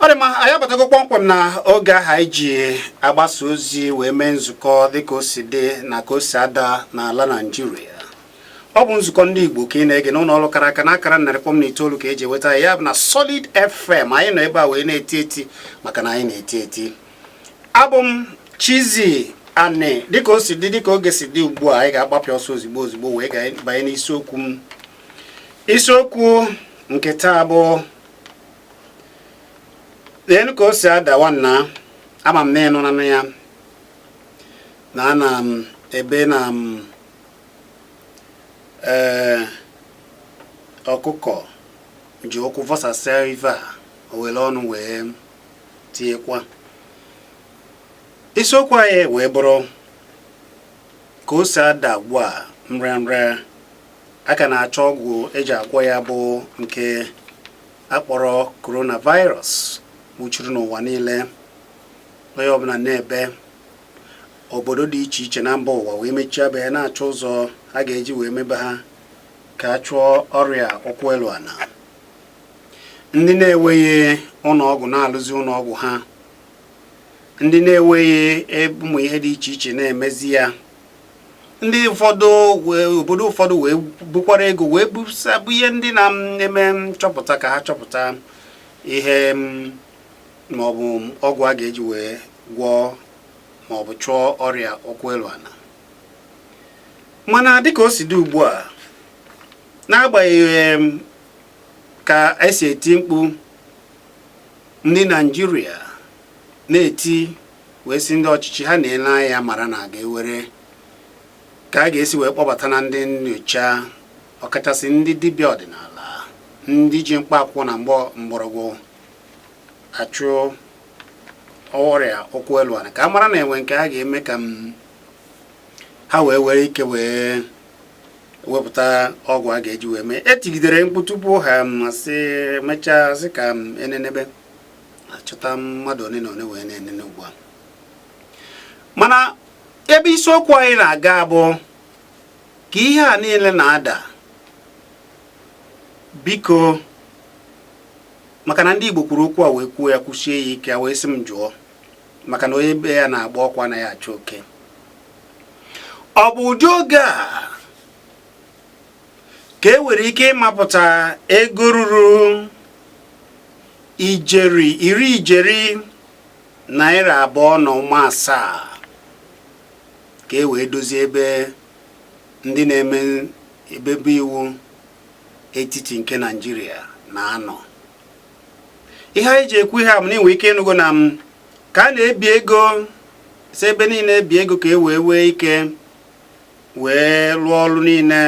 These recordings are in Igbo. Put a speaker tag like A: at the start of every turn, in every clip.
A: ọ dị mma anyị abatago kpọmkwem na oge ahụ anyị ji agbasa ozi wee mee nzukọ dịka o si dị na ka o si ada n'ala Naịjirịa ọ bụ nzukọ ndị Igbo ka ị na-ege n'ụlọ ọrụ kara aka n'akara narị kpọm na itoolu ka eji eweta ya bụ na Solid FM anyị nọ ebe a wee na-eti eti maka na anyị na-eti eti abụ m Chizzy Ani dịka o si dị dịka oge si dị ugbu a anyị ga-agbapịa ọsọ ozigbo ozigbo wee banye n'isiokwu m isiokwu nke taa bụ leenụ ka o si ada nwanna ama m na ị nọ na-anụ ya na ana m ebe na m ee ọkụkọ ji ụkwụ vọsasịa ive o were ọnụ wee tinyekwa isiokwu anyị wee bụrụ ka o si ada ugbu a nrịanrịa a ka na-achọ ọgwụ eji agwọ ya bụ nke akpọrọ coronavirus nwuchiri n'ụwa niile onye ọbụla na-ebe obodo dị iche iche na mba ụwa wee mechie be ya na-achọ ụzọ a ga-eji wee mebe ha ka a chụọ ọrịa ụkwụ elu ana ndị na-enweghị ụlọọgwụ na-alụzi ụlọọgwụ ha ndị na-enweghị e, ụmụ ihe dị iche iche na-emezi ya ndị ụfọdụ obodo ụfọdụ wee bukwara ego wee busa bunye ndị na-eme nchọpụta ka ha chọpụta ihe maọbụ ọgwụ a ga-eji wee gwọọ maọbụ chụọ ọrịa ụkwụ elu ana mana dịka o si dị ugbu a n'agbanyeghị ka esi eti mkpu ndị Naịjirịa na-eti wee sị ndị ọchịchị ha na-ele anya mara na a ga-ewere ka a ga-esi wee kpọbata na ndị nnyocha ọkachasị ndị dibịa ọdịnala ndị ji mkpa akwụkwọ na mgbọrọgwụ achụ ọrịa ụkwụ elu ana ka a mara na enwe nke a ga-eme ka ha wee were ike wee wepụta ọgwụ a ga-eji wee mee etigidere mkpu tupu ha masị mechaa sị ka enenebe achọta mmadụ one na one wee na-enene ugbu a mana ebe isiokwu anyị na-aga bụ ka ihe a niile na-ada biko maka na ndị Igbo kwuru okwu a wee kwuo ya kwusie ya ike wee sị m jụọ maka na onye be ya na-agba ọkụ anaghị achụ oke ọ bụ ụdị oge a ka e nwere ike ịmapụta ego ruru ijeri iri ijeri naira abụọ na ụma asaa ka e wee dozie ebe ndị na-eme ebebe iwu etiti nke Naịjirịa na-anọ ihe anyị ji ekwu ihe a bụ na i nwe ike ịnụgo na m ka a na-ebi ego si ebe niile ebi ego ka e wee nwee ike wee lụọ ọrụ niile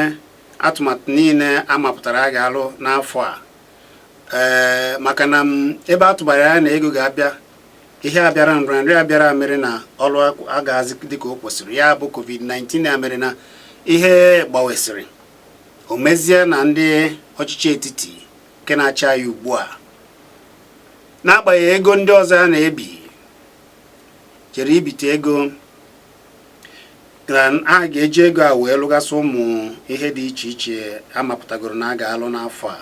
A: atụmatụ niile a mapụtara a ga-alụ n'afọ a ee maka na ebe a tụbara anya na ego ga-abịa ihe a bịara nrịanrịa a bịara mere na ọrụ agaghịzi dịka o kwesịrị ya bụ covid-19 a mere na ihe gbawesịrị o mezie na ndị ọchịchị etiti nke na-achị anyị ugbu a n'agbanyeghị ego ndị ọzọ a na-ebi jere ibite ego na a ga-eji ego a wee lụgasị ụmụ ihe dị iche iche amapụtagoro na a ga-alụ n'afọ a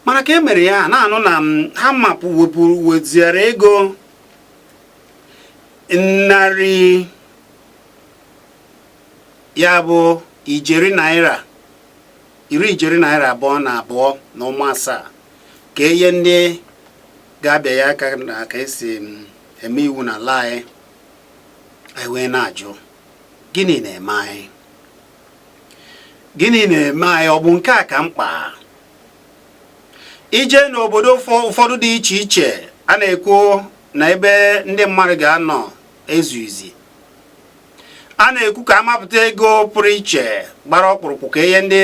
A: mana ka e mere ya na-anụ na ha mapụ wepụrụ weziere ego narị ya bụ ijeri naira iri ijeri naira abụọ na abụọ na ụma asaa ka enye ndị ga-abịanye aka na ka esi eme iwu n'ala anyị anyị wee na-ajụ gịnị na-eme anyị gịnị na-eme anyị ọ bụ nke a ka mkpa i jee n'obodo ụfọdụ dị iche iche a na-ekwu na ebe ndị mmadụ ga-anọ ezughizi a na-ekwu ka amapụta ego pụrụ iche gbara ọkpụrụkpụ ka e nye ndị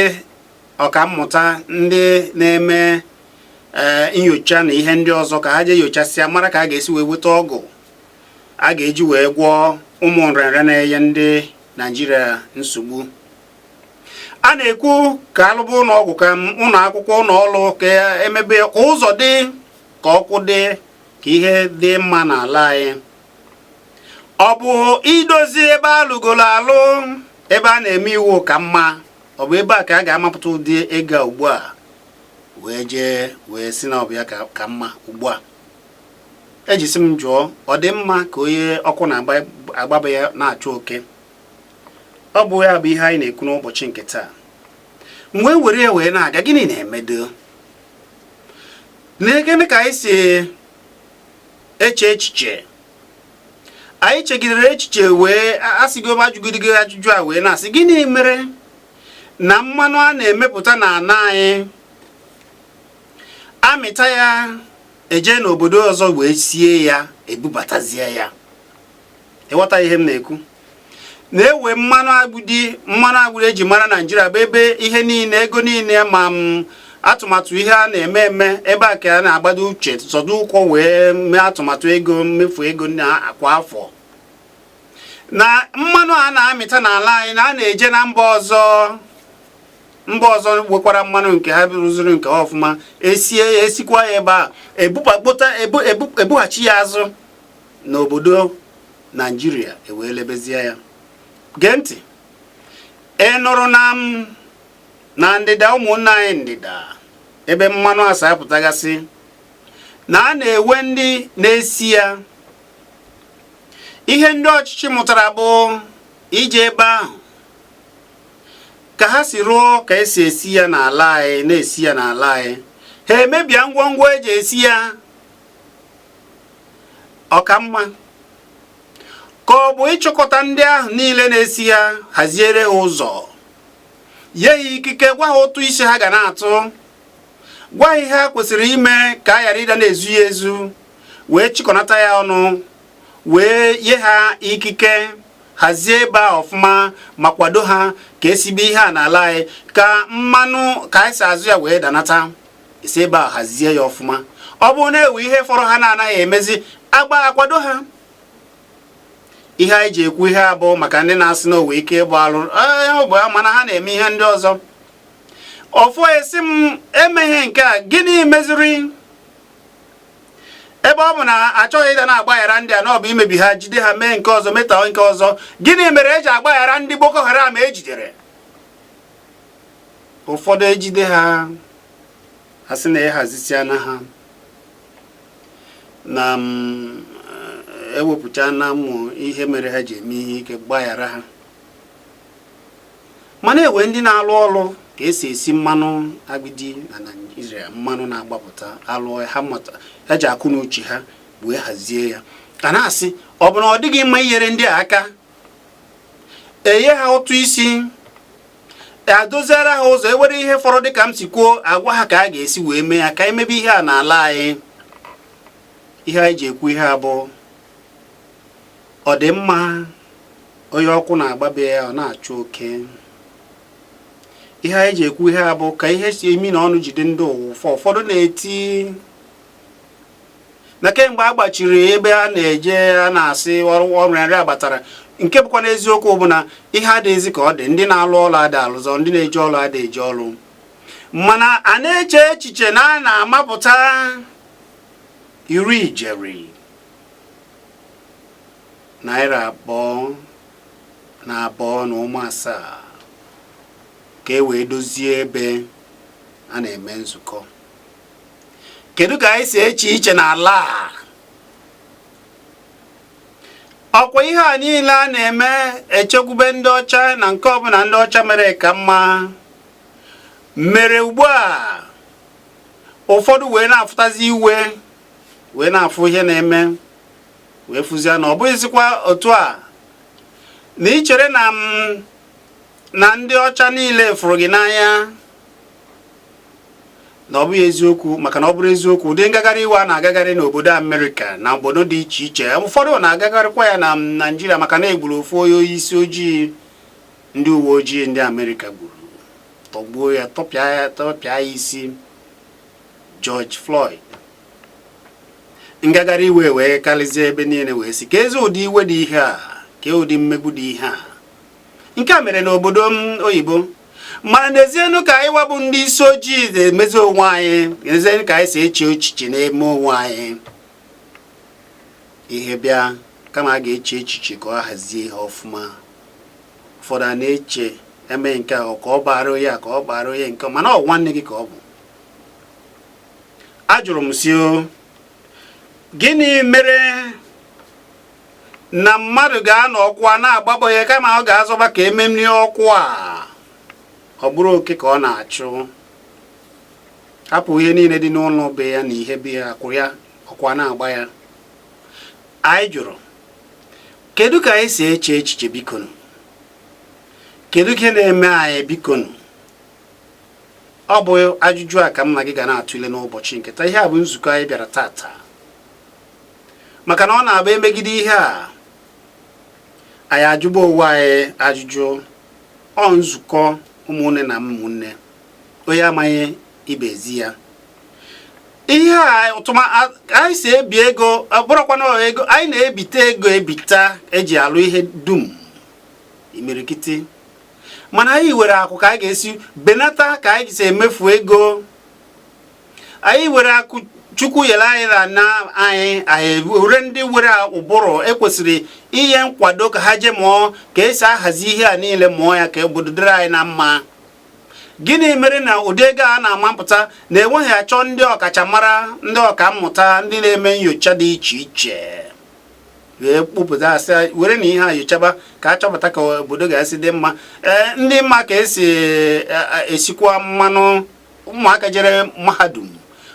A: ọkammụta ndị na-eme ee eh, nyocha na ihe ndị ọzọ ka ha jee nyochasịa mara ka a ga-esi wee weta ọgwụ a ga-eji wee gwọọ ụmụ nrịanrịa na-enye ndị Naijiria nsogbu a na-ekwu ka alụba ụlọ ọgwụ ka ụlọ akwụkwọ ụlọ ọrụ ka emebe ka ụzọ dị ka ọkụ dị ka ihe dị mma n'ala anyị ọ bụ idozi ebe alụgolo alụ ebe a na-eme iwu ka mma ọ bụ ebe a ka a ga-amapụta ụdị ego ugbu a wee jee wee sị na ọ bụ ya ka mma ugbu a e ji sị m jụọ ọ dị mma ka onye ọkụ na-agba be ya na-achụ oke ọ bụ ya bụ ihe anyị na-ekwu n'ụbọchị nke taa m wee were ya wee na-aga gịnị na-emedụ nekene ka anyị si eche echiche anyị chegidere echiche wee asịgo ajụgidigo ajụjụ a wee na-asị gịnị mere na mmanụ a na-emepụta na ana anyị amịta ya eje n'obodo ọzọ wee sie ya ebubatazie ya ịghọta ihe m na-ekwu na enwe mmanụ agbidi mmanụ agbidi eji mara naijiria bụ ebe ihe niile ego niile ma atụmatụ ihe a na-eme eme ebe a ka a na-agbado uche zọdo ụkwụ wee mee atụmatụ ego mmefu ego kwa afọ na mmanụ a na-amịta n'ala anyị na a na-eje na mba ọzọ mba ọzọ nwekwara mmanụ nke ha rụziri nke ha ọfụma esie ya esikwa ya ebe a ebughachi ya azụ n'obodo naijiria ewee lebezie ya gee ntị ị nụrụ na m na ndịda ụmụnna anyị ndịda ebe mmanụ a si apụtagasị na a na-enwe ndị na-esi ya ihe ndị ọchịchị mụtara bụ ije ebe ahụ ka ha si rụọ ka esi esi ya n'ala anyị na-esi ya n'ala anyị ha emebia ngwongwo eji esi ya ọ ka mma ka ọ bụ ịchọkọta ndị ahụ niile na-esi ya haziere ha ụzọ nye ha ikike gwa ha ụtụ isi ha ga na-atụ gwa ha ihe ha kwesịrị ime ka a ghara ịda na-ezu ya ezu wee chịkọnata ya ọnụ wee nye ha ikike hazie ebe a ọfụma ma kwado ha ka esibe ihe a n'ala anyị ka mmanụ ka anyị si azụ ya wee danata esi ebe a hazie ya ọfụma ọ bụrụ na enwe ihe fọrọ ha na-anaghị emezi agba akwado ha ihe anyị ji ekwu ihe a bụ maka ndị na-asị na o nwe ike ịgba alụ bụ mana ha na-eme ihe ndị ọzọ ọfọ esi m emeghị nke a gịnị meziri ebe ọ bụ na achọghị ịda na-agbaghara ndị a na ọ bụ imebi ha jide ha mee nke ọzọ meta nke ọzọ gịnị mere eji agbaghara ndị Boko Haram ejidere ụfọdụ ejide ha asị na ahazisiana ha na mm, ewepụchana mmụọ ihe mere ha ji eme ihe ike gbaghara ha mana enwe ndị na-alụ ọrụ ka esi esi mmanụ agbidi na Naịjirịa mmanụ na-agbapụta alụ ha ji akọ na uche ha wee hazie ya a na-asị ọ bụ na ọ dịghị mma inyere ndị a aka enye ha ụtụ isi adoziere ha ụzọ enwere ihe fọrọ dịka m si kwuo agwa ha ka a ga-esi wee mee ya ka emebe ihe a n'ala anyị ihe anyị ji ekwu ihe a bụ ọ dị mma onye ọkụ na-agba be ya ọ na-achụ oke ihe anyị ji ekwu ihe a bụ ka ihe si eme na ọnụ jide ndị ụwa ụfọ ụfọdụ na-eti na kemgbe a gbachiri ebe a na-eje a na-asị ọrụ ọrụ nri abatara nke bụkwa n'eziokwu bụ na ihe adịghịzi ka ọ dị ndị na-alụ ọrụ adị alụzi ndị na-eje ọrụ adị eje ọrụ mana a na-eche echiche na a na-amapụta iri ijeri naira abụọ na abụọ na ụma asaa ka e wee dozie ebe a na-eme nzukọ kedu ka anyị si eche uche n'ala a ọkwa ihe a niile a na-eme echekwube ndị ọcha na nke ọbụla ndị ọcha mere ka mma mere ugbu a ụfọdụ wee na-afụtazi iwe wee na-afụ ihe na-eme wee fụzie na ọ bụghịzikwa otu a na ị chere na ndị ọcha niile fụrụ gị n'anya na ọ bụghị eziokwu maka na ọ bụrụ eziokwu ụdị ngagharị iwe a na-agagharị n'obodo Amerịka na obodo dị iche iche ụfọdụ na-agagharịkwa ya na Naịjirịa maka na e gburu ofu onye isi ojii ndị uwe ojii ndị Amerịka gburu tọgbuo ya tọpịa ya isi George Floyd ngagharị iwe wee karịzie ebe niile wee sị ka e zi ụdị iwe dị ihe a ka ụdị mmegbu dị ihe a nke a mere n'obodo oyibo mana neezienụ ka anyịwa bụ ndị isi ojii na-emezi onwe anyị neezienụ ka anyị si eche echiche na-eme onwe anyị ihe bịa kama a ga-eche echiche ka ọ hazie ihe ọfụma ụfọdụ a na-eche e mee nke ahụ ka ọ baara onye a ka ọ baara onye nke mana ọ nwanne gị ka ọ bụ ajụrụ m sị ọ gịnị mere na mmadụ ga-anọ ọkụ a na-agba be ya kama ọ ga-azọba ka e merie ọkụ a ọ bụrụ oke ka ọ na-achụ hapụ ihe niile dị n'ụlọ be ya na ihe be ya akwụ ya ọkụ a na-agba ya anyị jụrụ kedu ka anyị si eche echiche bikonụ kedu ihe na-eme anyị bikonụ ọ bụ ajụjụ a ka mụ na gị ga na-atụle n'ụbọchị nke taa ihe a bụ nzukọ anyị bịara tata maka na ọ na-abụ e megide ihe a anyị ajụba onwe anyị ajụjụ ọ nzukọ ụmụnne na ụmụnne onye amaghị ibezi ya ihe a otu anyị si ebi ego bụrụkwana ego anyị na-ebite ego ebita eji alụ ihe dum imirikiti mana anyị nwere akụ ka anyị ga-esi benata ka anyị si emefu ego anyị nwere akụ chukwu nyere anyị n'ana anyị anyị nwere ndị nwere ụbụrụ ekwesịrị inye nkwado ka ha jee mụọ ka esi ahazi ihe a niile mụọ ya ka obodo dịrị anyị na mma gịnị mere na ụdị ego a na-amapụta na enweghị achọ ndị ọkachamara ndị ọka mmụta ndị na-eme nyocha dị iche iche wee kpụpụta asị were na ihe a nyochaba ka a chọpụta ka obodo ga-esi dị mma ee ndị ma ka esi e, e, esikwa mmanụ ụmụaka jere mahadum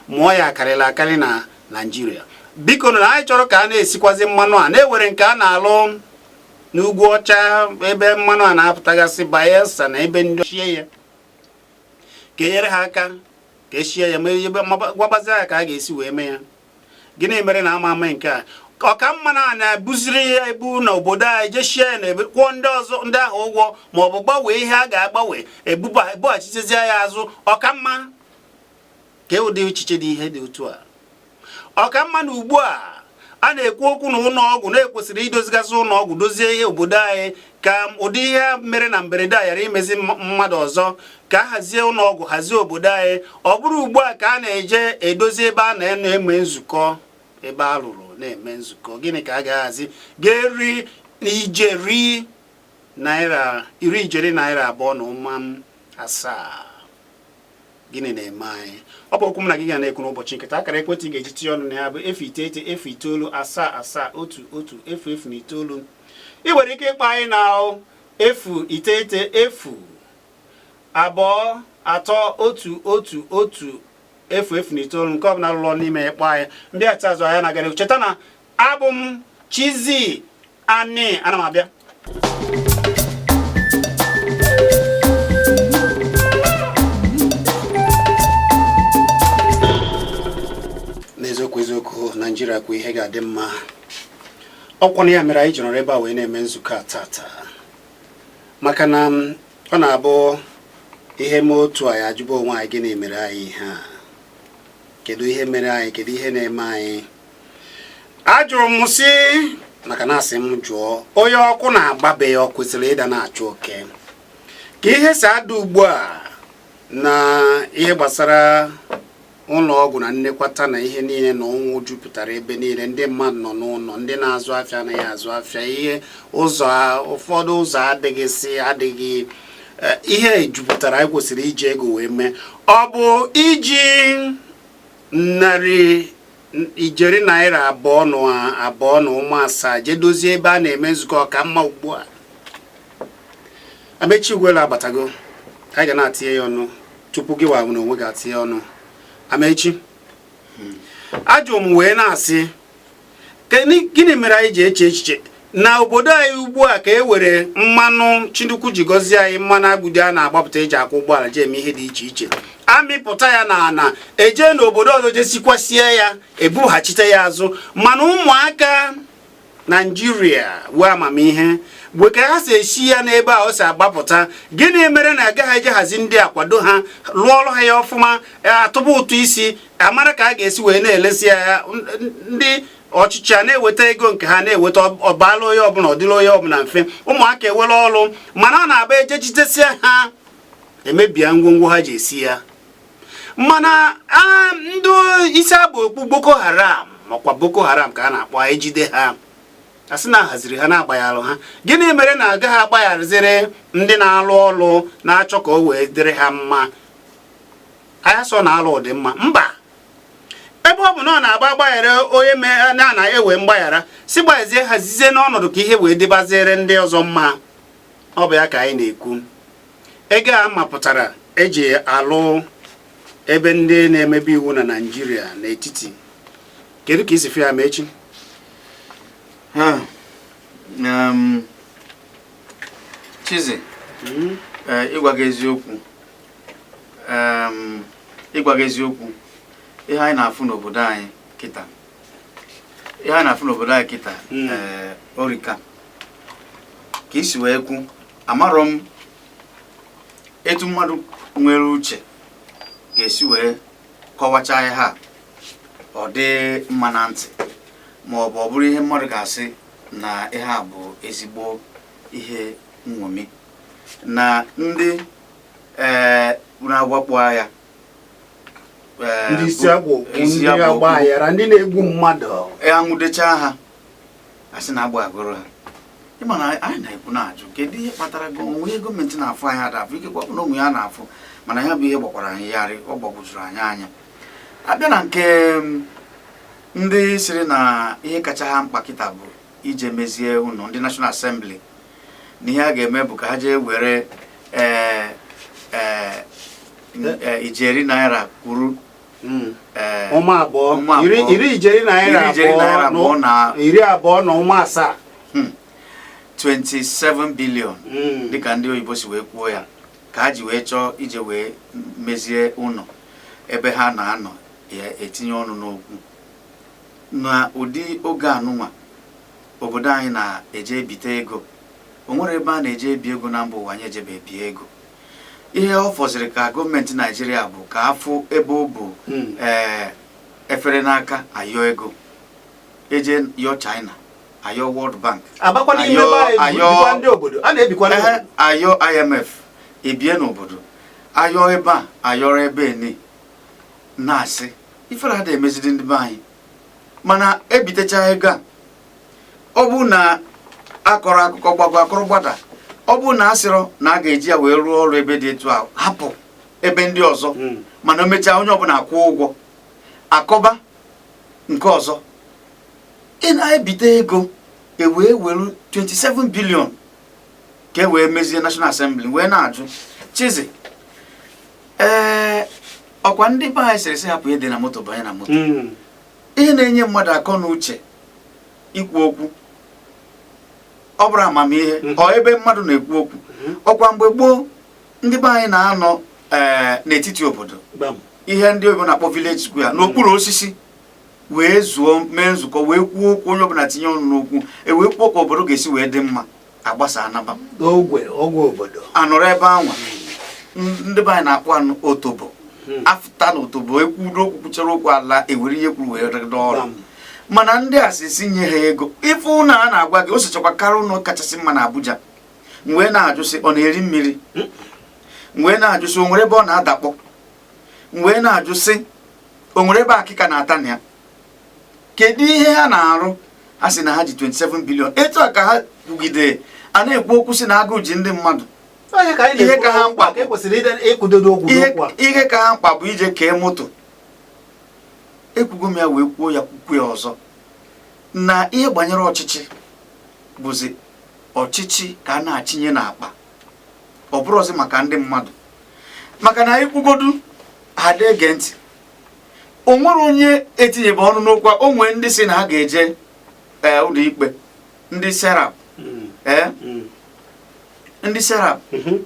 A: mụọ ya akarịla akarị na naijiria biko na anyị chọrọ ka a na-esikwazi mmanụ a na-ewere nke a na-alụ n'ugwu ọcha ebe mmanụ a na-apụtagasị bayelsa na ebe ndị ochie ya ka enyere ha aka ka esie ya ma ebe gwabazi ya ka a ga-esi wee mee ya gịnị mere na ama eme nke a ọ ka mma na a na-ebuziri ya ebu na obodo anyị jee sie ya na ebe kwụọ ndị ọzọ ndị ahụ ụgwọ ma ọ bụ gbanwee ihe a ga-agbanwe ebughachitezie ya azụ ọ ka mma ka e ụdị echiche dị ihe dị otu a ọ ka mma na ugbu a a na-ekwu okwu na ụlọ ọgwụ na ekwesịrị idozigasị ụlọ ọgwụ dozie ihe obodo anyị ka ụdị ihe mere na mberede a ghara imezi mmadụ ọzọ ka a hazie ụlọ ọgwụ hazie obodo anyị ọ bụrụ ugbu a ka a na-eje edozi ebe a na-eme nzukọ ebe a rụrụ na-eme nzukọ gịnị ka a ga-ahazi ga-eri ijeri naira abụọ na ụma asaa gịnị na-eme anyị ọ bụ okwu m na gị ga na-ekwu n'ụbọchị nketa akara ekwentị ị ga-eji tinye ọnụ na ya bụ efu iteghete efu itoolu asaa asaa otu otu efu efu na itoolu ị nwere ike ịkpọ anyị na efu iteghete efu abụọ atọ otu otu otu efu efu na itoolu nke ọbụla lụrụ n'ime ya kpọọ anyị ndị achị azụ ahịa na-agara cheta na abụ m Chizzy Ani ana m abịa n'eziokwu eziokwu naijiria kwe ihe ga-adị mma ọkwa na ya mere anyị ji nọrọ ebe a wee na-eme nzukọ a tata maka na mm, ọ na-abụ ihe mee otu a anyị ajụba onwe anyị gịnị mere anyị ihe a kedu ihe mere anyị kedu ihe na-eme anyị ajụrụ m sị maka na asị m jụọ onye ọkụ na-agba be ya ọ kwesịrị ịda na-achụ oke ka ihe si ada ugbu a na ihe gbasara ụlọ ọgwụ na nnekwata na ihe niile na ụnwụ jupụtara ebe niile ndị mmadụ nọ n'ụlọ ndị na-azụ afịa anaghị azụ afịa ihe ụzọ ụfọdụ ụzọ adịghị si adịghị eh, ihe jupụtara anyị kwesịrị iji ego wee mee ọ bụ iji nnarị ijeri naira abụọ na abụọ na ụma asaa jee dozie ebe a na-eme nzukọ ka mma ugbu a amechi ugwuelu abatago anyị ga na-atinye ya ọnụ tupu gịwa n'onwe gị atinye ọnụ amechi ajụ m wee na-asị gịnị mere anyị ji eche echiche na obodo anyị ugbu a ka e were mmanụ chinukwu ji gọzie anyị mmanụ agbịdị a na-agbapụta eji akwọ ụgbọala ji eme ihe dị iche iche amịpụta ya n'ana eje n'obodo ọzọ je sikwasie ya ebughachite ya azụ mana ụmụaka naijiria nwere amamihe nwee ka ha si esi ya n'ebe a o si agbapụta gịnị mere na agaghị eje hazie ndị a kwado ha lụọrọ ha ya ọfụma e, atụba ụtụ isi amara ka a ga-esi wee na-elesi ya ndị ọchịchị a na-eweta ego nke ha na-eweta ọ bala onye ọbụla ọ dịla onye ọbụla mfe ụmụaka enwere ọrụ mana ọ na-abụ e jee jidesia ha emebia ngwongwo ha ji esi ya mana ndị isi aba okpu boko haram makwa boko haram ka a na-akpọ ejide ha a sị na a haziri ha na a gbaghara ha gịnị mere na agaghị agbaghaziri ndị na-alụ ọrụ na-achọ ka o wee dịrị ha mma anyị asịrọ na alụ dị mma mba ebe ọ bụ na ọ na-agba agbaghara onye mere na na enwe mgbaghara si gbazie hazizie n'ọnọdụ ka ihe wee dịbazịrị ndị ọzọ mma ọ bụ ya ka anyị na-ekwu ego a mapụtara eji alụ ebe ndị na-emebe iwu na naijiria n'etiti kedu ka i si fụ ya amechi um, Chizzy hmm?
B: eh, ịgwa gị eziokwu ịgwa gị eziokwu ihe anyị na-afụ n'obodo anyị kịta ihe anyị na-afụ n'obodo anyị kịta hmm. eh, ọ rịka ka i si wee kwu amarọ m etu mmadụ nwere uche ga-esi wee kọwacha ihe a ọ dị mma na ntị ma ọ bụ ọ bụrụ ihe mmadụ ga-asị na ihe a bụ ezigbo ihe nṅomi na ndị ee unu awakpo
A: ya Ee, ndị isi bụ- agwụ bụ isi ndị agwụ agba okwu. aghara ndị na-egbu mmadụ e anwụdechaa ha
B: asị na agbaghagoro ha ịma na anyị na-ekwu na-ajụ kedu ihe kpatara gị o nwe ihe gọọmenti na-afụ anyị ada afụ ikekwe ọ bụ na o nwe ihe ha na-afụ mana ya bụ ihe gbakwara anyị yarị ọ gbagwojuru anyị anya abịa na nke mm, ndị sịrị na ihe kacha ha mkpa kịta bụ ije mezie ụnọ ndị National Assembly na ihe a ga-eme bụ ka ha jee were ee ee ee, ijeri naira kwuru Mm. ee, ụma abụọ
A: Ụma abụọ. iri- iri ijeri naira Iri ijeri naira abụọ abụọ na- na iri abụọ na ụma asaa
B: 27 billion Mm. dịka ndị oyibo si wee kwuo ya ka ha ji wee chọọ ije wee mezie ụnọ ebe ha na-anọ etinye ọnụ n'okwu Na ụdị oge anụnwa obodo anyị na-eje ebite ego, o nwere ebe a na-eje ebi ego na mba ụwa anyị ejebe bie ego. Ihe ọ fọziri ka gọọmenti Naịjirịa bụ ka afụ ebe o bu hmm. ee efere n'aka ayọ ego eje yọ China ayọ World Bank ayọ IMF ebie n'obodo ayọ ebe a ayọrọ ebe ni na-asị ifere ada emezidi ndị be anyị mana ebitecha ego a ọ bụrụ na akọrọ akụkọ gbago akọrọ gbada ọ bụrụ na asịrọ na a ga-eji ya wee rụọ ọrụ ebe dị etu a hapụ ebe ndị ọzọ hmm. mana o mechaa onye ọbụla akwụ ụgwọ akọba nke ọzọ ị na-ebite ego ewee were 27 billion ka e wee mezie National Assembly wee na-ajụ Chizi ee ọkwa ndị be anyị sịrị sị hapụ ihe e dere na moto banye na moto Mm. ihe na-enye mmadụ akọ na uche ikwu okwu ọ bụrụ amamihe Mhm. ọ ebe mmadụ na-ekwu okwu Mhm. ọkwa mgbe gboo ndị be anyị na-anọ ee, n'etiti obodo Gbam. ihe ndị oyibo na-akpọ village square n'okpuru osisi wee zuo mee nzukọ wee kwuo okwu onye ọbụla tinye ọnụ n'okwu e wee kwuo ka obodo ga-esi wee dị mma agbasa anaba ogwe ogwe
A: obodo anọrọ ebe anwa
B: ndị be anyị na-akpọ otobo hmm. afụta na otobo ekwudo okwu kwuchara okwu ala ewere ihe e kwuru wee rụdo ọrụ mana ndị a sị sị nye ha ego ị fụ ụlọ a na-agwa gị o sochakwa karịa ụlọ kachasị mma na Abuja m wee na-ajụ sị ọ na-eri mmiri hmm. m wee na-ajụ sị o nwere ebe ọ na-adakpọ m wee na-ajụ sị o nwere ebe akịka na-ata na ya kedu ihe ha na-arụ ha sị na ha ji 27 billion etu a ka ha kwugidere a na-ekwu okwu sị na agụụ ji ndị mmadụ ihe ka ha mkpa bụ ije kee moto ekwugo m ya wee kwuo ya kwukwuo ya ọzọ na ihe gbanyere ọchịchị bụzi ọchịchị ka a na-achịnye n'akpa ọ bụrụzi maka ndị mmadụ maka na anyị kwugodu ha ada ege ntị o nwere onye etinyebe ọnụ n'okwu a o nwee ndị si na ha ga-eje ee eh, ụlọ ikpe ndị serap hmm. ee eh? hmm. ndị serap ee mhm.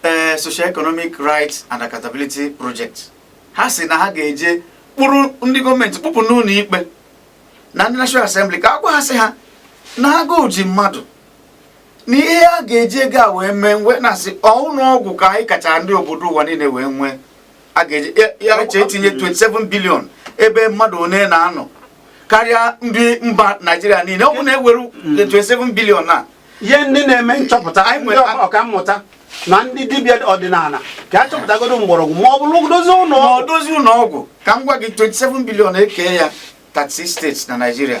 B: eh, social economic rights and accountability project ha si na ha ga-eje kpụrụ ndị gọọmenti kpụpụ n'ụlọ ikpe na ndị National Assembly ka a gwa ha sị ha na agụụ ji mmadụ na ihe a ga-eji ego a wee mee wee na-asị ọ ụlọ ọgwụ ka anyị kacha ndị obodo ụwa niile wee nwee a ga-eji ya eche etinye 27 billion ebe mmadụ one na-anọ karịa ndị mba naijiria niile ọ bụ na e were 27 billion nye ndị
A: na-eme nchọpụta ndị ọka mmụta na ndị dibịa ọdịnala ka a chọpụtagodo mgbọrọgwụ ma ọ bụrụ dozie ụlọ ọgwụ ka m gwa gị
B: 27 billion e kee ya 36 states na naijiria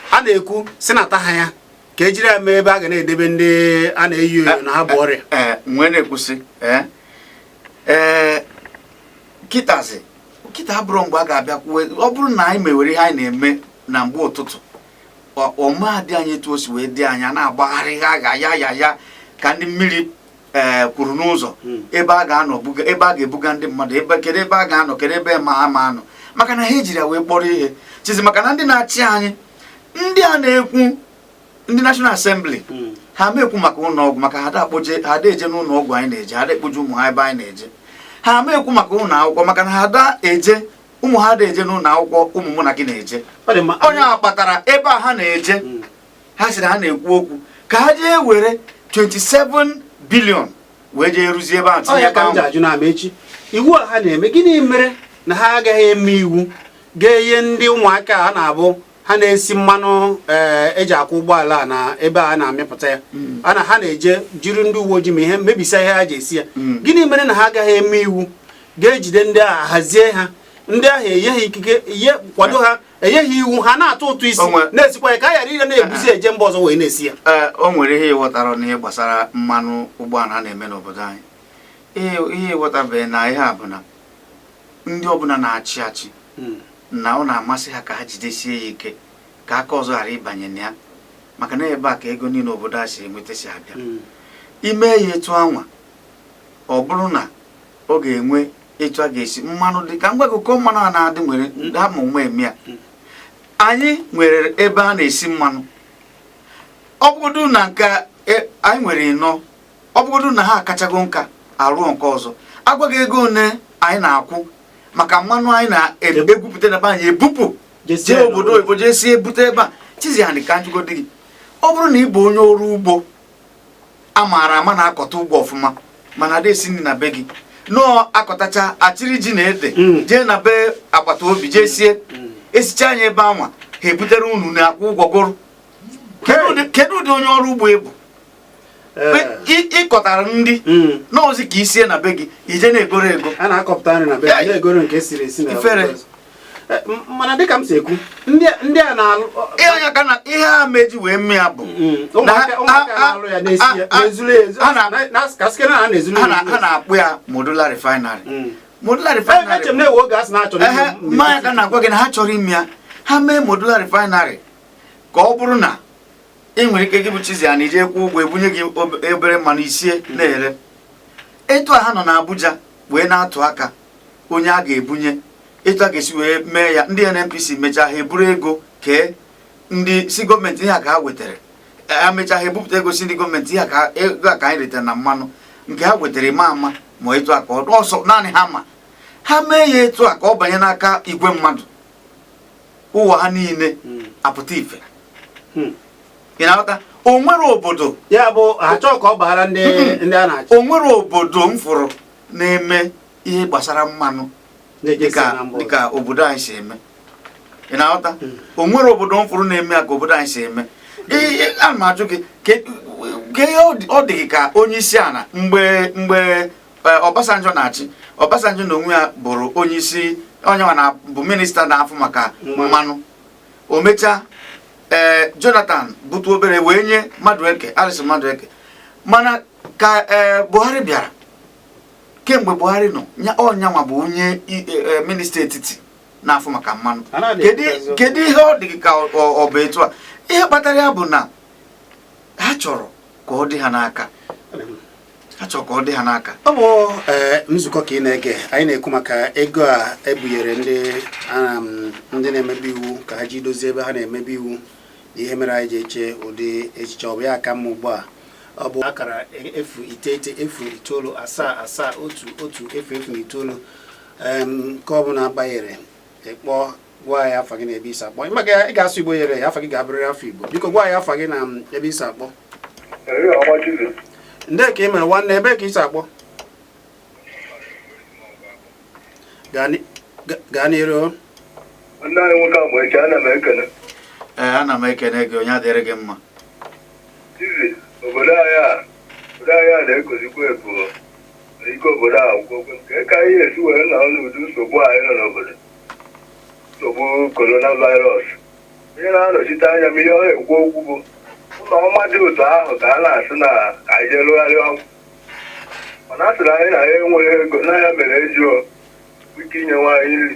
A: a na-ekwu sị nata ha ya ka e jiri ya mee ebe a ga na-edebe ndị a na-enyo enyo na ha bu ọrịa eh, eh, wee na-ekwu
B: sị ee eh, kịtazi kịta abụrụ mgbe a ga-abịa kwuwe ọ bụrụ na anyị mewere ihe anyị na-eme na mgbe ụtụtụ ọ ma adị anyị etu o si wee dị anya na-agbagharị ha ga ya ya ya ka ndị mmiri ee eh, kwuru n'ụzọ hmm. ebe a ga-anọ ebe a ga-ebuga ndị mmadụ ebe kedu ebe a ga-anọ kedu ebe a ma anọ maka na ha ejiri ya wee kpọrọ ihe Chizzy maka na ndị na-achị anyị ndị a na-ekwu ndị National Assembly hmm. ha ma ekwu maka ụlọ ọgwụ maka ha ada eje n'ụlọ ọgwụ anyị na-eje ha ada ekpoje ụmụ ha ebe anyị na-eje ha ma ekwu maka ụlọ akwụkwọ maka na ha ada eje ụmụ ha ada eje n'ụlọ akwụkwọ ụmụ mụ na gị na-eje onye a kpatara ebe ha na-eje hmm. ha sịrị ha na-ekwu okwu ka ha jee were 27 billion wee jee rụzie ebe ahụ tinye ebe ahụ ajụ na echi
A: iwu a ha na-eme gịnị mere na ha agaghị eme iwu ga-enye ndị ụmụaka a na-abụ ha na-esi mmanụ eh, eji akwụ ụgbọala na ebe a na-amịpụta ya mm. ana ha na-eje jiri ndị uwe ojii ma ihe mebisa ihe ha ji esi ya mm. gịnị mere na ha agaghị eme iwu ga-ejide ndị ahụ hazie ha ndị ahụ enye ha ikike ihe kwado ha enyeghị iwu ha na-atụ ụtụ isi na-esikwa ya ka a ghara ịdị na-ebuzi eje mba ọzọ wee na-esi ya ee o nwere ihe ị
B: ghọtarọ n'ihe gbasara mmanụ ụgbọala a na-eme n'obodo anyị ihe ị ghọtabeghị na ihe a bụ na ndị ọbụla na-achị achị hmm. na ọ na-amasị ha ka ha jidesie ya ike ka aka ọzọ ghara ịbanye na ya maka na ebe a ka ego niile obodo a si enweta si abịa hmm. i mee ya etu anwa ọ bụrụ na ọ ga-enwe etu a ga-esi mmanụ dị ka m gwa gị ụkọ mmanụ a na-adị nwere ha ma ụma eme ya anyị nwere ebe a na-esi mmanụ ọ bụgodu na nke e, anyị nwere ịnọ ọ bụgodu na ha akachago nka arụọ nke ọzọ a gwa gị ego one anyị na-akwụ maka mmanụ anyị na-egwupụta na be anyị ebupụ jee obodo oyibo jee sie bute ebe a Chizzy ha ka m jụgodi gị ọ bụrụ na ị bụ onye ọrụ ugbo a maara ama na-akọta ugbo ọfụma mana ada esi nri na be gị nọọ akọtacha achịrị ji na ede mm. jee na be agbata obi jee sie mm. esicha anya ebe anwa ha ebutere unu na-akwụ ụgwọ goro kedu ụdị onye ọrụ ugbo ị bụ ị kọtara eh. nri hmm. n'ozi ka i sie na be gị i je na-egoro ego a na-akọpụta nri na be
A: gị na-egoro nke siri esi na ifere mana dịka m si ekwu ndị a na-alụ
B: ihe a meji wee mme ya bụ ha na-akpọ ya modular refinery mm.
A: modular refinery e, ma ọ ya ka na-agwa gị
B: na ha chọrọ ime ya ha mee modular refinery ka ọ bụrụ na ị nwere ike gị bụ Chizzy a na-eje kwụ ụgwọ ebunye gị obere mmanụ i sie na-ere etu a ha nọ n'Abuja wee na-atụ aka onye a ga-ebunye etu a ga-esi wee mee ya ndị NNPC mechaa ha eburu ego kee ndị sị gọọmenti ihe a ka ha wetara ha mechaa ha ebupụta ego sị ndị gọọmenti ihe a ego a ka anyị retara na mmanụ nke ha wetara ma ama ma etu a ka ọ sọ naanị ha ma ha mee ya etu a ka ọ banye n'aka igwe mmadụ ụwa ha niile hmm. apụta ife hmm. ị na-aghọta o nwere obodo ya bụ achọ
A: ka ọ baara ndị ndị a na-achị o nwere obodo m
B: fụrụ na-eme ihe gbasara mmanụ dịka obodo anyị si eme ị na-aghọta hmm. o nwere obodo m fụrụ na-eme ya ka obodo anyị si eme ana m ajụ gị ka ihe ọ dị gị ka onye isi ala mgbe mgbe e, Obasanjo na-achị Obasanjo na onwe ya bụrụ onye isi ọ nya nwa bụ minista na-afụ maka mmanụ o mechaa ee eh, Jonathan bụtu obere wee nye Madueke Alison Madueke mana ka eh, Buhari bịara kemgbe Buhari nọ ọ nya nwa bụ onye eh, eh, minista etiti na-afụ maka mmanụ kedu ihe ọ dị gị ka ọ bụ etu a ihe kpatara ya bụ na ha chọrọ ka ọ dị ha n'aka achọ ka ọ dị
A: ha n'aka ọ bụ eh, nzukọ ka ị na-ege anyị na-ekwu maka ego a ebunyere ndị um, ndị na-emebe iwu ka ha ji dozie ebe ha na-emebe iwu na ihe mere anyị ji eche ụdị echiche ọ bụ ya ka mma ugbu a ọ bụ akara efu iteghete efu itoolu asaa asaa otu otu efu efu na itoolu nke ọ bụla banyere ị kpọọ gwa anyị afa gị na ebe i si akpọ maka ị ga-asụ igbo yere ya afa gị ga-abụrịrị afa igbo biko gwa anyị afa gị na ebe i si akpọ nde ka ị mere nwanne ebe ka i si akpọ gaa n'iru
C: nwanne anyị nwoke agba eche ana m ekene ee ana m
B: ekene gị ọ ya-adịrị gị mma Chizzy
C: obodo anyị a obodo anyị a na-ekozikwa ebu ike obodo agwụgo nke ka anyị esi wee nọ n'ụdị nsogbu anyị nọ n'obodo nsogbu coronavirus onye na-anọchite anya m ihe ọ na-ekwu okwu bụ ụlọ ọma dị otu ahụ ka a na-asị na ka anyị jee rụgharịa ọgwụ mana a sịrị anyị na ya enweghị ego na ya mere eji ike inye nwaanyị nri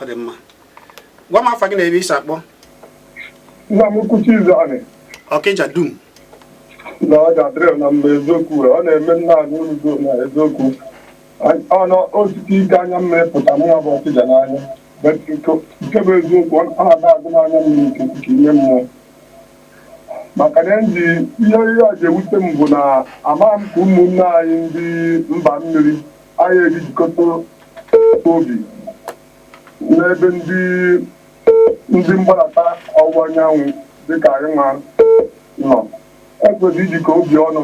A: ọ dị mma gwa m afa gị na ebe i si akpọ
D: nna m ukwu Chizzy anyị ọkịja
A: dum na
D: ọ ga-adịrị na mma eziokwu were ọ na-eme nna anyị udo na eziokwu ọ na-esisi ike anya mmiri ịpụta mụnwa bụ ọkịja n'anya But nke nke bụ eziokwu ọ na-ada agba m anya mmiri nke ime mmụọ maka na ndị ihe ihe o ji ewute m bụ na amaghị m ka ụmụnne anyị ndị mba mmiri anyị ejijikọta obi n'ebe ndị ndị mgbadata ọwụwa anyanwụ dịka anyị nwa nọ e kwesịrị ijikọ obi ọnụ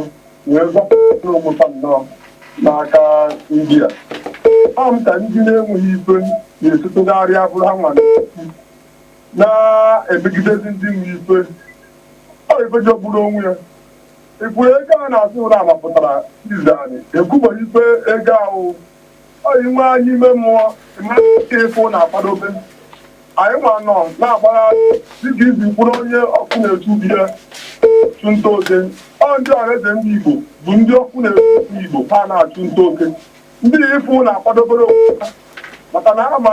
D: wee zọpụta ụmụta nnọọ n'aka ndị a ọ bụ ka ndị na-enweghị ife na-esi atụgharị ụbụrụ ha nwa na-emegidezi ndị nwe ife ọ ife jọgburu onwe ya Igwe ego a na-asị na a mapụtara Chizzy anyị ekwubeghị igwe ego ahụ ọ inwe anyị ime mmụọ mmadụ ike ịfụ na-akwadobe anyị nwa nọ na-agbagharị dịka izi kwuru onye ọkụ na-echu be ya chụ nta oke ọ ndị Ọhaneze ndị Igbo bụ ndị ọkụ na-echu Igbo ha na-achụ nta oke ndị ifu na-akwadobere onwe ha maka na ha ma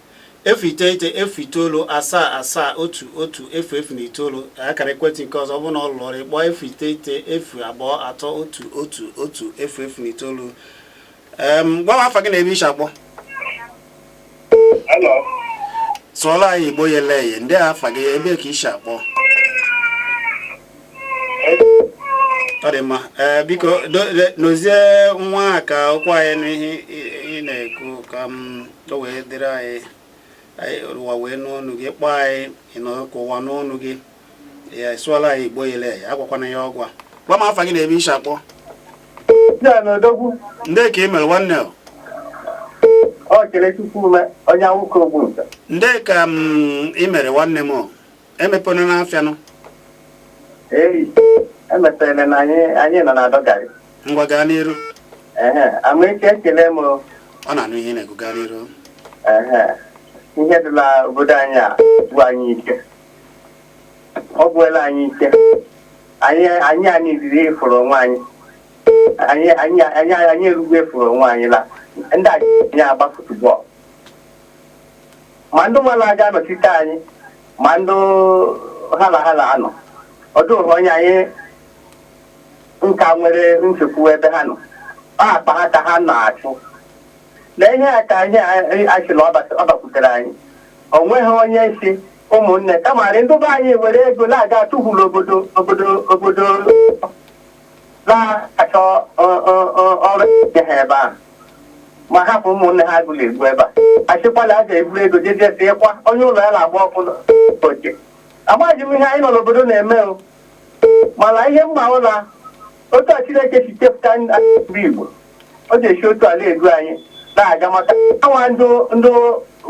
A: efu iteghete efu itoolu asaa asaa otu otu efu efu na itoolu akara ekwentị nke ọzọ ọ bụrụ na ọ lụrọ ọrụ ị kpọọ efu iteghete efu abụọ atọ otu otu otu efu efu na itoolu Em, gwa m afa gị na ebe i si akpọ Hello. sụọla anyị igbo yele eye ndee afa gị ebe ka i si akpọ ọ dị mma ee biko do- le- nọzie nwa a ka o kwe anyị nụ ihe ị- ị na-ekwu ka m o wee dịrị anyị anyị ụwa wee nụ ọnụ gị kpọọ anyị na ka ụwa nụ ọnụ gị ya sụọla anyị igbo yele ya agwakwana ya ọgwa gwa m afa gị na ebe i shi akpọ Ya na odogwu ndee ka ị mere nwanne o?
E: Okechukwu Ume onye awụka ogbu nta ndee ka
A: ị mere nwanne m o? emepena n'afịa nụ
E: Ee, emepere na anyị anyị nọ na-adọgharị. ngwa gaa
A: n'iru Ehe, amaechi
E: ekele m o. ọ na-anụ ihe ị
A: na-ekwu gaa n'iru Ehe,
E: ihe dị la obodo anyị agwụ anyị ike. Ọ gwụela anyị ike. Anyị anyị anyị riri efuru onwe anyị. Anyị anyị anyị anyị erugbu efuru onwe anyị la. Ndị a anyị agba football. ma ndị nwa na-aga anọchite anyị ma ndị ha na ha na-anọ ọ dịghị onye anyị nka nwere nchekwube ebe ha nọ ọ akpa ha ka ha na-achụ na ihe a ka anyị sị na ọ bakwutere anyị o nweghị onye sị ụmụnne kamarị ndị be anyị were ego na-aga atụhụ n'obodo obodo na-achọ ọrụ ha ebe ahụ ma hapụ ụmụnne ha agụụ na-egbu ebe a a sịkwa na a ga-eburu ego jeje ịkwa onye ụlọ ya na-agba ọkụ oche amaghị m ihe anyị nọ n'obodo na-eme mana ihe m ma bụ na otu a Chineke si chepụta ndị Igbo ọ ga-esi otu a na-edu anyị na-aga maka anwa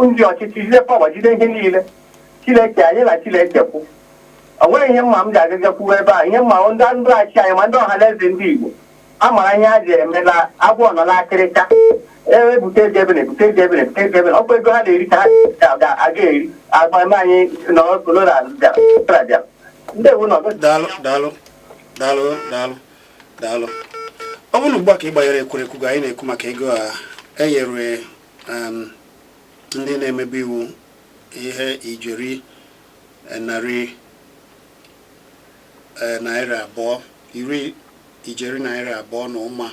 E: ndị ọchịchị jide pawa jide ihe niile chineke anyị na chineke kwụ O nwere ihe mma m ji agaga kwuwe ebe a ihe m ma bụ ndị achị anyị ma ndị ọha na eze ndị Igbo a mara ihe a ji eme na agwọ nọ n'akịrịka ebute ego ebele ebute ego ebele ebute ego ebele ọkwa ego ha na-eri ka ha ga- aga eri agba eme anyị na corona bịara ndewo
A: nụ
E: daalụ
A: daalụ ọ bụrụ na ugbu a ka ị gbanyere ekwurekwu gị anyị na-ekwu maka ego a enyere em, ndị na-emebe iwu ihe ijeri e, narị e, naira abụọ ijeri naira abụọ na ụma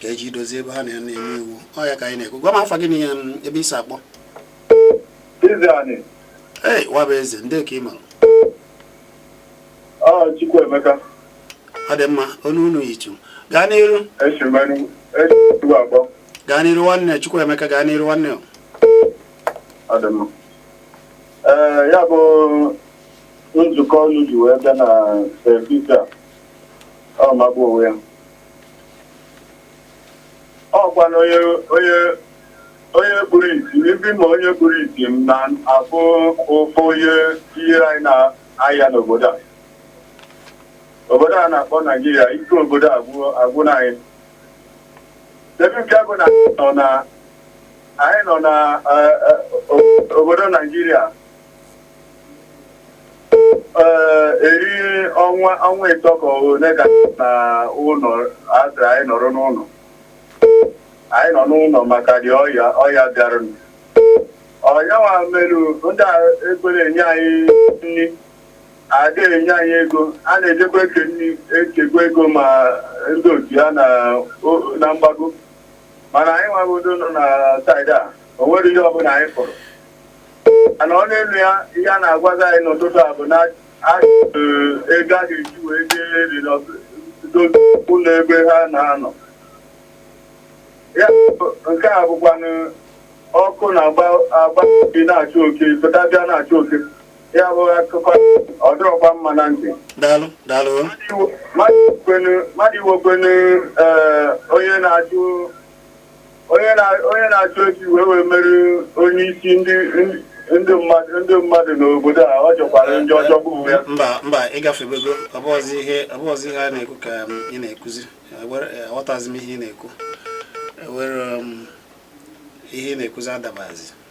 A: ka e ji dozie ebe ha nọ na-eme iwu ọ ya ka anyị na-ekwu gwa m afa gị na ihe m, ebe i si akpọ Ize anyị, ee Nwabueze ndị ka ị mara
D: ọ Chukwuemeka, ọ
A: dị mma onye unu yitu gaa n'iru esi m Enugu, esi m Enugu akpọ, gaa n'iru nwanne Chukwuemeka gaa n'iru nwanne ọ
D: dị mma. Ee, ya bụ nzukọ unu ji wee bịa na service a ọ magbu onwe ya ọkwa na onye kpuru isi ndị ma onye kpuru isi m na-afụ ụfụ ihe ihe anyị na-aya n'obodo a obodo a na-akpọ Naijiria ike obodo agwụna anyị ebe ọ bịago na na anyị nọ na eh, eh, o- obodo Naijiria eh, eri ọnwa ịtọ ka ole ka a nọ ụnọ a sị anyị nọrọ n'ụnọ anyị nọ n'ụnọ maka ụdị ọya bịaranụ ọya nwa merụ ndị a ekwerọ enye anyị nri Ada enye anyị ego, a na-ejekwa eke nri, ekekwa ego ma ndị otu ya na o- na mgbago. Mana anyị nwago ndị nọ na saịdị a, o nwere ihe ọbụla anyị fụrụ. Mana ọ n'elu ya, ihe a na-agwazi anyị n'ụtụtụ a bụ na a eh, ego a ga-eji wee jee riri ọtụtụ ụlọ ebe ha na-anọ. Ya bụ, nke a bụkwanụ ọkụ na-agba agba bi na-achụ oke, pụta bịa na-achụ oke. ya bụ akụkọ ọ dịrọkwa mma na ntị daalụ
A: daalụ mmadụ
D: iwekwanụ eh, onye na-achụ onye na- onye na-achụ efi wee wee mere onye isi ndị ndị mmadụ ndị mmadụ n'obodo a ọ jọkwara njọ ọjọọ bụ ya mba mba
A: ịgafebego ọ bụrọzi ihe ọ bụrọzi ihe a na-ekwu ka um, ị na-ekuzi Ewere- eh, aghọtazi m ihe ị na-ekwu ewere um, ihe ị na-ekuzi adabazi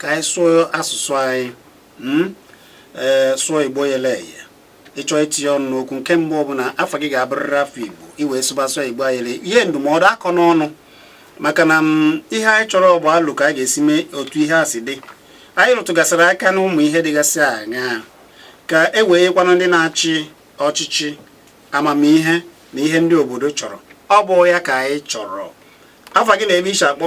A: ka anyị sụọ asụsụ anyị hmm? ee sụọ igbo yele eye ịchọ itinye ọnụ n'okwu nke mbụ bụ na afa gị ga-abụrịrị afa igbo i wee sụba asụsụ igbo ayele ihe ndụmọdụ akọ n'ọnụ maka na hmm, ihe anyị chọrọ ọ bụ alo ka a ga-esi mee otu ihe a si dị anyị rụtụgasịrị aka n'ụmụ ihe dịgasị aṅaa ka e wee yekwanụ ndị na-achị ọchịchị amamihe na ihe ndị obodo chọrọ ọ bụ ya ka anyị chọrọ afa gị na ebe i si akpọ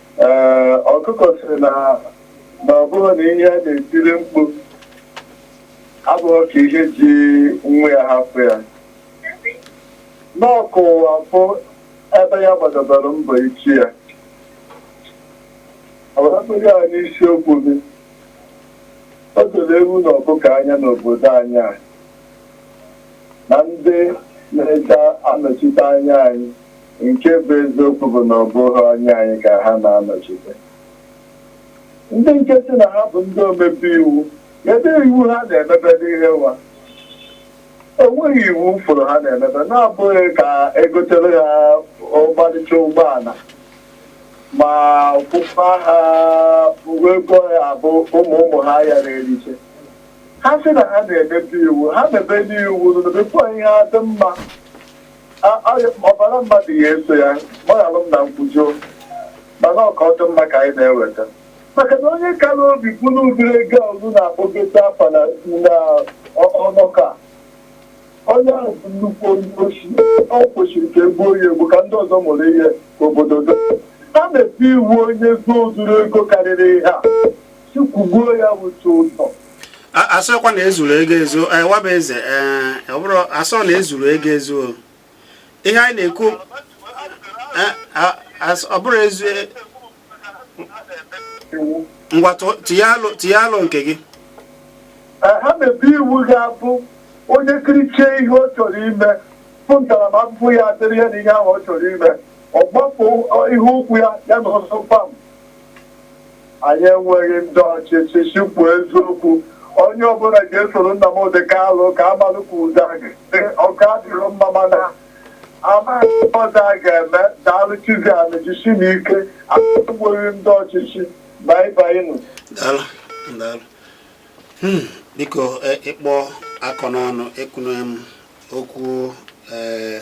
D: Ee, ọkụkọ sị na na ọ bụrụ na ihe ya na-etiri mkpu abụrọ ka ihe ji nwa ya hapụ ya na ọ ka ụwa fụ ebe ya gbadabara mbọ ichi ya ọbụrụbụrụ ya n'isiokwu gị o doro ewu na ọkụkọ anya n'obodo anyị a na ndị na-eje anọchite anya anyị Nke bụ eziokwu bụ na ọ bụghị anya anyị ka ha na-anọchite. Ndị nke sị na ha bụ ndị omebe iwu, ebe iwu ha na-emebe n'ihe nwa. O nweghị iwu m fụrụ ha na-emebe na-abụghị ka egotere ha ọmarịcha ụgbọala ma kwụkwa ha uwe ego ya abụ ụmụ ụmụ ha ya na-eriche. Ha sị na ha na-emebe iwu, ha mebenụ iwu, mebekwa ihe ha dị mma. ọbara mmadụ ya eso ya gbaghalụ m na m kwujọọ mana ọ ka ọ dị mma ka anyị na-eweta maka na onye kara obi buru ụdịrị ego ọnụ na-akpọgote afa na ọnọka onye ahụ bụ nnukwu onye oshi ọ kwesịrị ka egbuo ya egbu ka ndị ọzọ mụrụ ihe ka obodo do ha mebe iwu onye zuo zuru ego karịrị ihe a sị kwụgbuo ya bụ tụ ụtọ
A: asịkwa na ezuru ego ezu eh, waba eze eh, ọ bụrụ asị na ezuru ego ezu ihe anyị na-ekwu eh, ọ bụrụ ezu ngwa tinye alo nke
D: gị ha mebe iwu ga-abụ onye kirichie ihe ọ chọrọ ime bụ ntaramahụhụ ya dịrị ya na ihe ahụ ọ chọrọ ime ọ gbapụ ihe ụkwụ ya ya na ọsọ pam Anyị enweghị ndị ọchịchị sị kwuo eziokwu. Onye ọbụla ga-esoro Nnamdị Kalụ ka amalụ ka ụzọ ọ ga-adịrị mma mana amaghị ọzọ a ga-eme daalụ chizi anyị jisi na ike enweghị ndị ọchịchị bye bye
A: nụ hmm, biko e, ịkpọ akọ n'ọnụ ekwunye m okwu ee eh,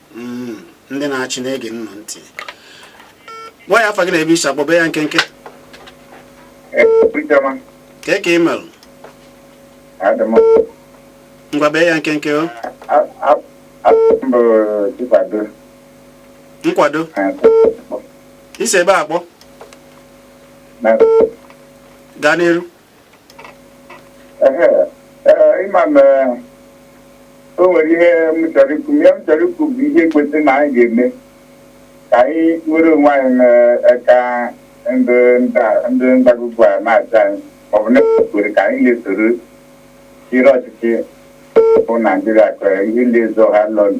A: hmm, ndị na-achị na-ege nụ ntị gwa ya afa gị na ebe i si akpọ bee ya nkenke eh, ka ka ị merụ ngwa bee ya nkenke o nkwado i si ebee akpọ gaa n'iru
F: ịma na o nwere ihe m chọrọ ikwu ihe m chọrọ ikwu bụ ihe kwesịrị na anyị ga-eme ka anyị nwere onwe anyị n'aka ndị ndagụgụ a na-achị anyị maọbụ na-ekwere ka anyị na-esoro chịrị ọchịchị bụ naijiria ka ihe ndị ezo ha lọnụ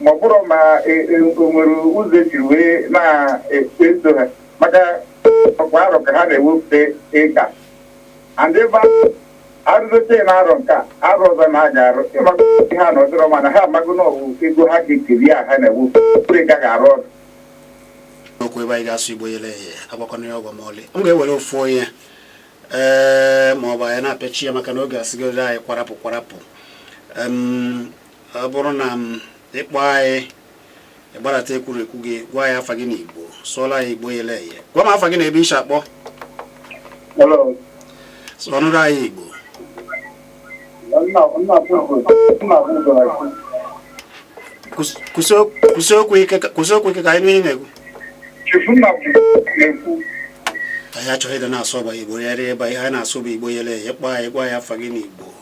F: ma ọ bụrụ ma e, e, o nwere ụzọ eji wee na-eso ha maka ọ kwa arọ ka ha na-ewepụta ego ndị ebe a- arụgote na arọ nke a, arọ ọzọ na a ga-arụ ịmaka ihe ha na ọdịrọ mana ha amago na ọwụ ego ha ga-ekeri a ha na-ewepụ bụrụ ego a ga-arụ
A: ọrụ okwu ebe anyị ga-asụ igbo yele eye agwakwana ya ọgwa ma ọlị m ga-ewere ofu onye ee ma ọ bụ anyị na-apịachi ya maka na oge asịgoro anyị kwarapụ kwarapụ Em, ọ bụrụ na ịkpọ anyị ịgbarata ekwurekwu gị gwa ya afa gị na igbo sụọra ya igbo yele eye gwa m afa gị na ebe i shi akpọ sụọnụrụ anyị igbo kwusi okwu ike ka anyị nụ ihe ị na-ekwu anyị achọghị ịdị na-asụ ọba igbo ya rie ebe ihe anyị na-asụ bụ igbo yele eye kpọọ anyị gwa ya afa gị na igbo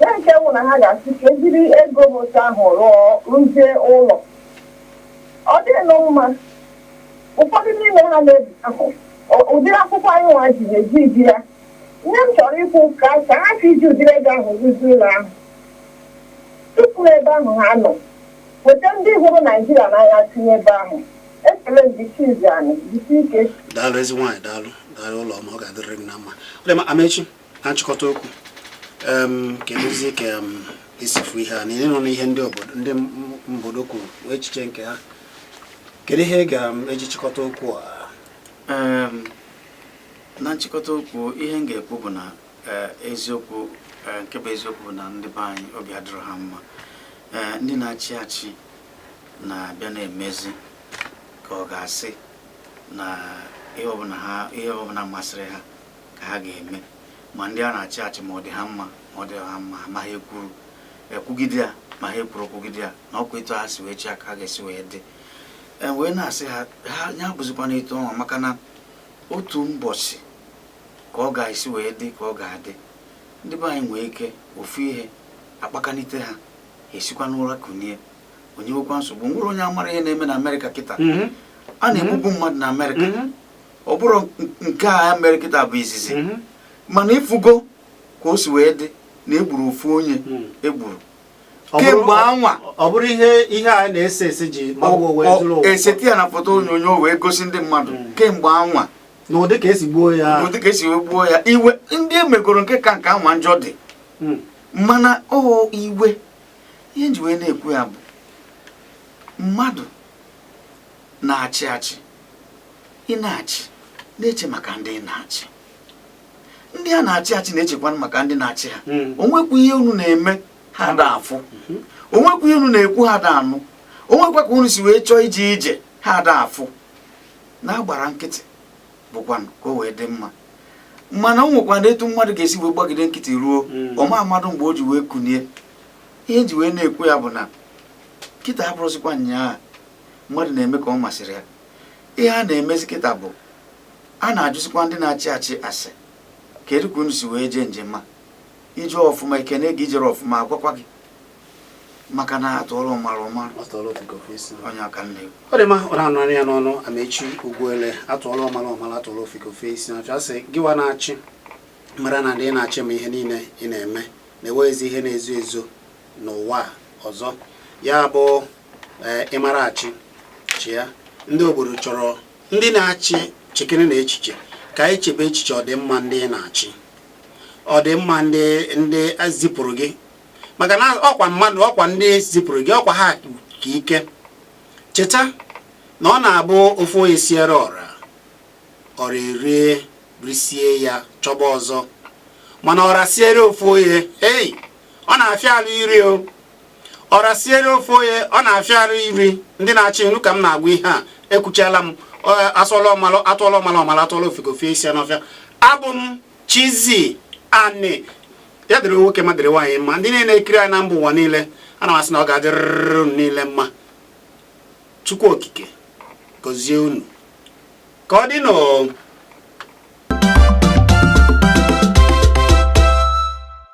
G: ya nke wụ na ha ga-asị ka ejiri ego bụ otu ahụ rụọ rụzie ụlọ ọ dịnụ mma ụfọdụ n'ime ha na-ebi ahụ ọ- ụdịrị akwụkwọ anyị nwa ji na-eji ibi ya ihe m chọrọ ikwu ka ka ha si iji ụdịrị ego ahụ rụzie ụlọ ahụ chụpụ ebe ahụ ha nọ weta ndị hụrụ naijiria n'anya tinye ebe ahụ ekele ndị chizi anyị jisi ike daalụ ezi nwaanyị
A: daalụ daalụ ụlọ ọma ọ ga-adịrịrị gị na mma ọ dị mma amechi na nchịkọta okwu kedụzi ka i si fụ ihe a na ịnụ na ihe ndị obodo ndị mbodo kwuru echiche nke ha kedu ihe ị ga-eji chịkọta okwu a
B: na nchịkọta okwu ihe m ga-ekwu bụ na eh, eziokwu eh, nke bụ eziokwu bụ na ndị be anyị obi adịrọ ha mma eh, ndị na-achị achị na-abịa na-emezi ka ọ ga-asị na ihe ọbụla ha ihe ọbụla masịrị ha ka ha ga-eme ma ndị a na-achị achị ma ọ dị ha mma ma ọ dị ha mma ma ha ekwuru ekwugide ya ma ha ekwuru okwugide ya na ọkwa etu ha si wee chịa ka ha ga-esi wee dị e wee na-asị ha na ya abụzikwana etu ọnwa maka na otu mbọchị ka ọ ga-esi wee dị ka ọ ga-adị ndị be anyị nwee ike ofu ihe akpakanite ha esikwa n'ụra kunie onye nwekwa nsogbu nwere onye amara ihe na-eme na amerịka kịta mhm. a na-egbubu mmadụ na amerịka mhm. ọ bụrọ nke a mere kịta bụ izizi mhm. mana ịfụgo ka o si wee dị na egburu ofu onye mhm. egburu kemgbe anwa ọ bụrụ ihe
A: ihe a na-ese ese ji eseti
B: ya na foto onyonyo wee gosi ndị mmadụ mhm. kemgbe anwa n'ụdị ka esi
A: gbuo ya n'ụdị ka esi wee gbuo
B: ya iwe ndị emegoro nke ka nke anwa njọ dị mana o iwe ihe m ji wee na-ekwu ya bụ mmadụ na-achị achị ị na-achị na-eche maka ndị ị na-achị ndị a na-achị achị na-echekwanụ maka ndị na-achị ha hmm. onwekwu ihe unu na-eme ha da afụ hmm. onwekwu ihe unu na-ekwu ha da anụ onwekwa ka unu si wee chọọ ije ije ha da afụ na-agbara nkịtị bụkwa ka o wee dị mma mana o nwekwana etu mmadụ ga-esi wee gbagide nkịtị ruo hmm. ọma mmadụ mgbe o ji wee kunie ihe e ji wee na-ekwu ya bụ na kịta abụrọzikwa nyaa mmadụ na-eme ka ọ masịrị ya ihe a na-emezi kịta bụ a na-ajụzikwa ndị na-achị achị ase kedu ka unu si wee jee njem a i jee ọfụma ekene gị i jerọ ọfụma agwakwa gị maka na atụọla ọmara ọmara onye aka nne ọ dị mma ọ na-anụ
A: ya n'ọnụ amaechi ugwuele atụọla ọmara ọmara atụọla ofeke ofe isi na asị gịwa na-achị mara na ndị ị na-achị ma ihe niile ị na-eme na enweghịzi ihe na-ezo ezo n'ụwa ọzọ ya bụ ee ị mara achị chịa ndị obodo chọrọ ndị na-achị chekere na echiche ka anyị chebe echiche ọdịmma ndị ị na-achị ọdịmma ndị ndị zipụrụ gị maka na ọkwa mmadụ ọkwa ndị zipụrụ gị ọkwa ha ka ike cheta na ọ na-abụ ofu onye siere ọra ọra erie risie ya chọba ọzọ mana ọra siere ofu onye ei ọ na-afịa arụ iri o ọra siere ofu onye ọ na-afịa arụ iri ndị na-achị unu ka m na-agwa ihe a ekwuchala m a sị na atụọla ọmalụ ọmalụ atụọla ofeke o fee isi n'ọfịa abụ m chizzy ani ya dịrị nwoke ma dịrị nwaanyị mma ndị niile na-ekiri anyị na mba ụwa niile ana m asị na ọ ga-adịrịrị unu niile mma chukwu okike gọzie unu ka ọ dị n'o